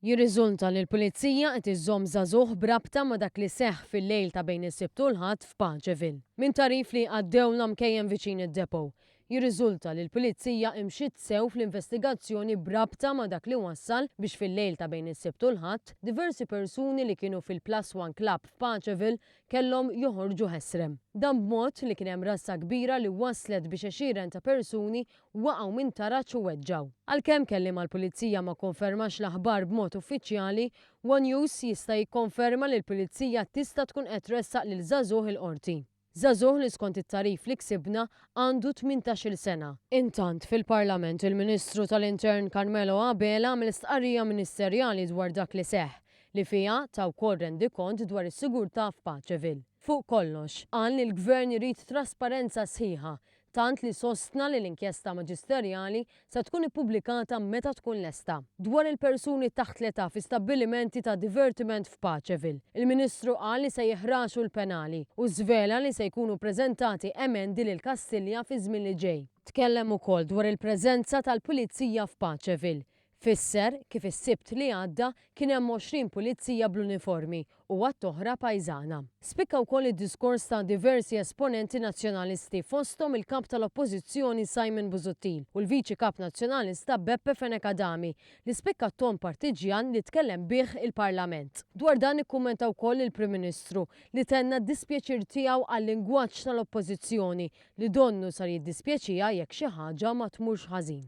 Jirriżulta li l-Pulizija qed iżżomm żagħżugħ b'rabta ma' dak li seħħ fil-lejl ta' bejn is-Sibt u l-Ħadd f'Pageville. Minn tagħrif li għaddew l-għamkejjen viċin id-depot, jirriżulta li l-Pulizija imxiet sew fl-investigazzjoni b'rabta ma' dak li wassal biex fil-lejl ta' bejn is-Sibt u l-Ħadd, diversi persuni li kienu fil-Plus One Club f'Pageville kellhom joħorġu ħesrem. Dan b'mod li kien hemm rassa kbira li wasslet biex għexieren ta' persuni waqgħu minn taraġ u weġġgħu. Għalkemm kelliem għall-Pulizija ma kkonfermax l-aħbar b'mod uffiċjali, one News jista' jikkonferma li l-Pulizija tista' tkun qed tressaq lil żagħżugħ il-Qorti. Żagħżugħ li skont it-tagħrif li ksibna għandu tmintax-il sena. Intant, fil-Parlament il-Ministru tal-Intern Carmelo Abela għamel stqarrija ministerjali dwar dak li seħħ, li fiha ta wkoll rendikont dwar is-sigurtà f'Paceville. Fuq kollox, qal li l-Gvern irid trasparenza sħiħa tant li sostna li l-inkjesta maġisterjali se tkun ippubblikata meta tkun lesta. Dwar il-persuni taħt l-età fi stabbilimenti ta' divertiment f'Paceville, il-Ministru qal li se jeħraxu l-penali u żvela li se jkunu preżentati emendi lil Kastilja fiż-żmien li ġej. Tkellem ukoll dwar il-preżenza tal-Pulizija f'Paceville, Fisser kif is-Sibt li għadda kien hemm 20 pulizija bl-uniformi u għadd oħra pajżana. Spikka wkoll id-diskors ta' diversi esponenti Nazzjonalisti fosthom il-Kap tal-Oppożizzjoni Simon Busuttil u l-Viċi Kap Nazzjonalista Beppe Fenech Adami li spikka t-ton partiġġjan li tkellem bih il-Parlament. Dwar dan ikkummenta wkoll il-Prim Ministru li tenna d-dispjaċir tiegħu għal-lingwaġġ tal-Oppożizzjoni li donnu sar jiddispjaċiha jekk xi ħaġa ma tmurx ħażin.